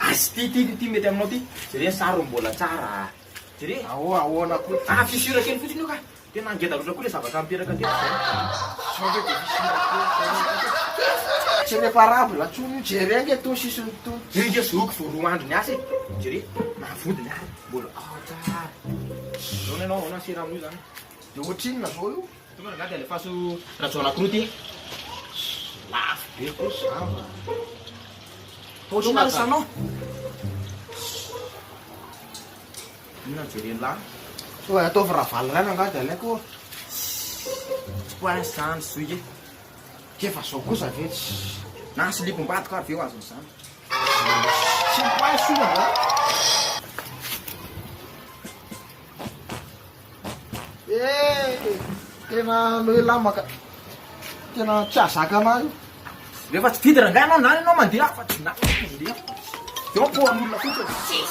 Asy ty ty ty mety aminao ty. Jereo ny sary mbola tsara a. Jereo. Aoa ahoana koa ty. Ah fissure kely fotsiny io ka. Tena ngeda loatra koa le zavatra niteraka teto zany. Sao ve dia fissure kely zany. Tsy reparable intsony io jereo nge tony sisiny tony. Io nge zoky vao roa andro niasa e. Jereo. Na vodiny ary mbola ao tsara. Ahoana ianao ahoana sera amin'io zany. Dia ohatrinona zao io. Tokony angaha dia alefaso rajaonakoroa ty e. Lafo be koa zao a. Inona ary salon? Inona jereny lahy? Oa ataovy ravalo ray rangaha dia alaiko oa. Tsy poince zany zohiko e. K'efa zao kosa ve tsy. Na slip ambadiko ary ve ho azon'izany? Tsy mi-poince oa rangaha. Eeh tena loelamaka tena tsy azaka anah io. Rehefa tsy didy rangahy anao na ianao mandeha afa tsy na mandeha fa tsy. Eo am-poan'olona fotsiny.